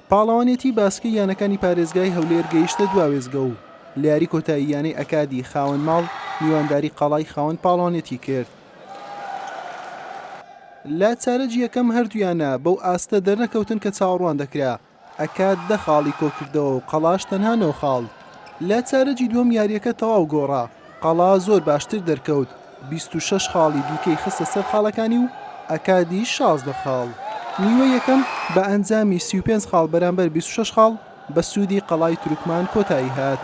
پاڵەوانێتی باسکەی یانەکانی پارێزگای هەولێر گەیشتە دوا وێزگە و لە یاری کۆتایی یانەی ئەکادی خاوەن ماڵ میوانداری قەڵای خاوەن پاڵەوانێتی کرد. لە چارەجی یەکەم هەردوویانە بەو ئاستە دەرنەکەوتن کە چاوەڕوان دەکرا ئەکا دە خاڵی کۆکردەوە و قەڵاش تەنها نۆ خاڵ. لە چارەگی دووەم یارییەکە تەواو گۆڕا، قەڵا زۆر باشتر دەرکەوت، بیست و شەش خاڵی دیکەی خستە سەر خاڵەکانی و ئەکادی شازدە خاڵ. نیوەی یەکەم بە ئەنجامی سی و پێنج خاڵ بەرامبەر بیست و شەش خاڵ بە سوودی قەڵای تورکمان کۆتایی هات.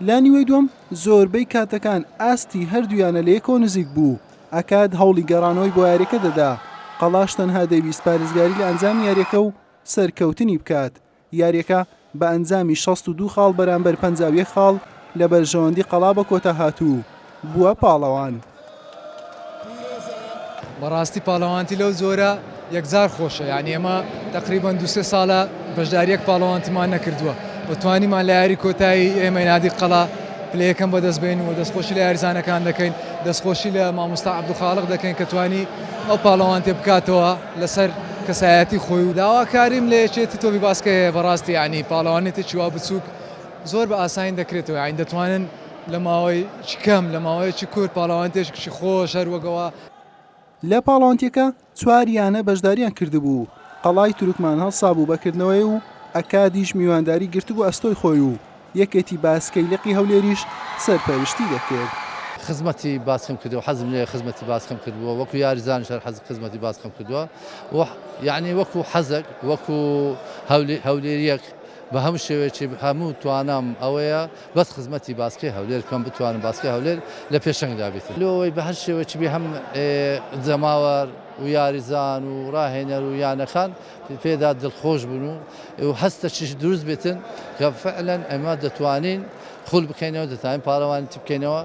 لە نیوەی دووەم زۆربەی کاتەکان ئاستی هەردوو یانە لە یەکەوە نزیک بوو، ئاکاد هەوڵی گەڕانەوەی بۆ یاریەکە دەدا، قەڵاش تەنها دەیویست پارێزگاری لە ئەنجامی یاریەکە و سەرکەوتنی بکات، یاریەکە بە ئەنجامی شەست و دوو خاڵ بەرامبەر پەنجا و یەک خاڵ لە بەرژەوەندی قەڵا بە کۆتا هات و بووە پاڵەوان. بەڕاستی پاڵەوانتی لەو جۆرە. یەکجار خۆشە یانی ئێمە تەقریبەن دوو سێ ساڵە بەشداریەک پاڵەوانتمان نەکردووە و توانیمان لە یاری کۆتایی ئێمەی نادی قەڵا پلە یەکەم بەدەست بێنین و دەستخۆشی لە یاریزانەکان دەکەین دەستخۆشی لە مامۆستا عەبدولخاڵق دەکەین کە توانی ئەو پاڵەوانتێ بکاتەوە لەسەر کەسایەتی خۆی و داواکاریم لە یەکێتی تۆپی باسکە هەیە بەڕاستی یانی پاڵەوانێتێکی وا بچووک زۆر بە ئاسانی دەکرێتەوە یانی دەتوانن لە ماوەیەکی کەم لە ماوەیەکی کورت پاڵەوانتێکی خۆش هەر وەک ئەوە لە پاڵەوانتێکە چوار یانە بەشداریان کردبوو، قەڵای تورکمان هەڵسابوو بە کردنەوەی و ئەکادیش میوانداری گرتبوو ئەستۆی خۆی و یەکێتی باسکەی لقی هەولێریش سەرپەرشتی دەکرد. خزمەتی باسکەم کردووە حەزم لێیە خزمەتی باسکەم کردبووە وەکو یاریزانیش هەر حەز خزمەتی باسکەم کردووە و یانی وەکو حەزەک وەکو هەولێریەک بە هەموو شێوەیەکی هەموو توانام ئەوەیە بەس خزمەتی باسکەی هەولێر بکەم بتوانم باسکەی هەولێر لە پێشەنگدا بیت لۆ ئەوەی بە هەر شێوەیەکی بێ هەم جەماوەر و یاریزان و ڕاهێنەر و یانەکان پێدا دڵخۆش بوون و و هەستەکیش دروست بێتن کە فعلەن ئەمە دەتوانین خول بکەینەوە دەتوانین پاڵەوانیتی بکەینەوە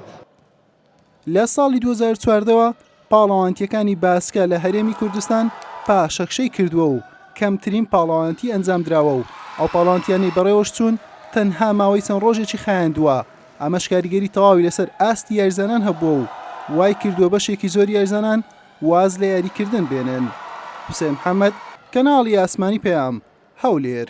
لە ساڵی دوو هەزار و چواردە وە پاڵەوانتییەکانی باسکە لە هەرێمی کوردستان پاشەکشەی کردووە و کەمترین پاڵەوانتی ئەنجامدراوە و ئەو پاڵەوانتییانەی بەڕێوەشچوون تەنها ماوەی چەند ڕۆژێکی خایاندووە، ئەمەش کاریگەری تەواوی لەسەر ئاستی یاریزانان هەبووە و وایکردووە بەشێکی زۆری یاریزانان واز لە یاریکردن بێنن. حوسێن محەمەد، کەناڵی ئاسمانی پەیام، هەولێر.